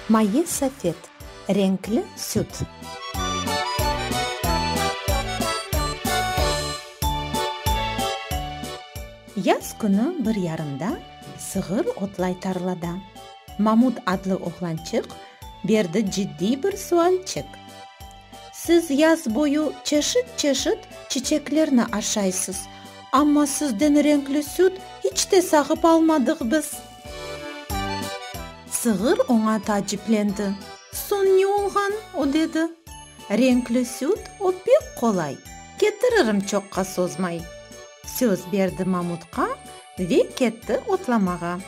Maye safet, renkli süt. Yaz künü bir yarımda sığır otlay tarlada. Mamut adlı oğlançıq berdi ciddiy bir sualçik. Siz yaz boyu çeşit-çeşit çiçeklerni aşaysız, amma sizden renkli süt hiç te sağıp almadıq biz. Sığır oña taaciplendi. Soñ ne olğan? o dedi. Renkli süt, o pek qolay, ketiririm çoqqa sozmay. Söz berdi mamutqa. Ve ketti otlamağa.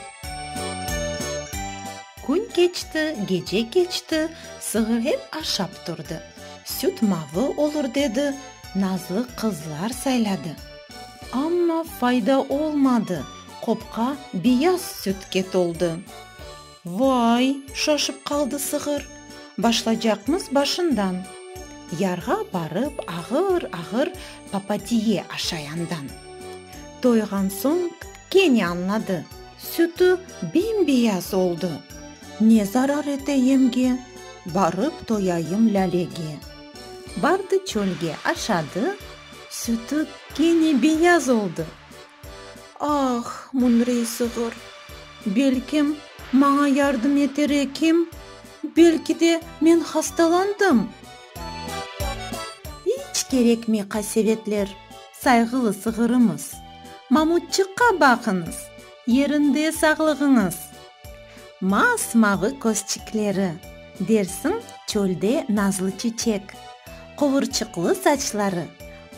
Kün keçti, gece keçti, sığır ep aşap turdı. Süt mavı olur dedi, nazlı qızlar sayladı. Amma fayda olmadı, qopqa beyaz sütke toldı. Vay! şaşıp qaldı sığır. Başlacaqmız başından. Yarğa barıp ağır-ağır papatiye aşayandan. Toyğan soñ kene añladı, sütü bem-beyaz oldı. Ne zarar ete yemge, barıp toyayım Lâlege. Bardı çölge, aşadı, sütü kene beyaz oldı. Ah, müñrey sığır! Belkim, maña yardım eter ekim? Belki de, men hastalandım? İç kerekmey qasevetler, sayğılı sığırımız! Mamutçıqqa baqıñız, yerinde sağlığıñız! Mas-mavı közçikleri, dersiñ çölde nazlı çeçek, quvurçıqlı saçları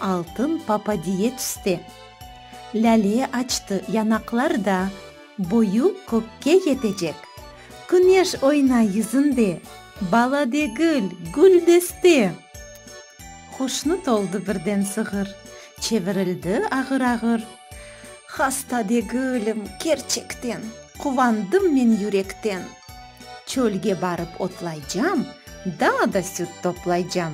altın papadiye tüste. Lâle açtı yanaqlarda, Boyu kökke yetecek. Küneş oyna yüzünde, Bala degil, güldeste! Hoşnut oldı birden sığır, Çevirildi ağır-ağır. Hasta degilim, kerçekten, Quvandım men yürekten. Çölge barıp otlaycam, Daa da süt toplaycam.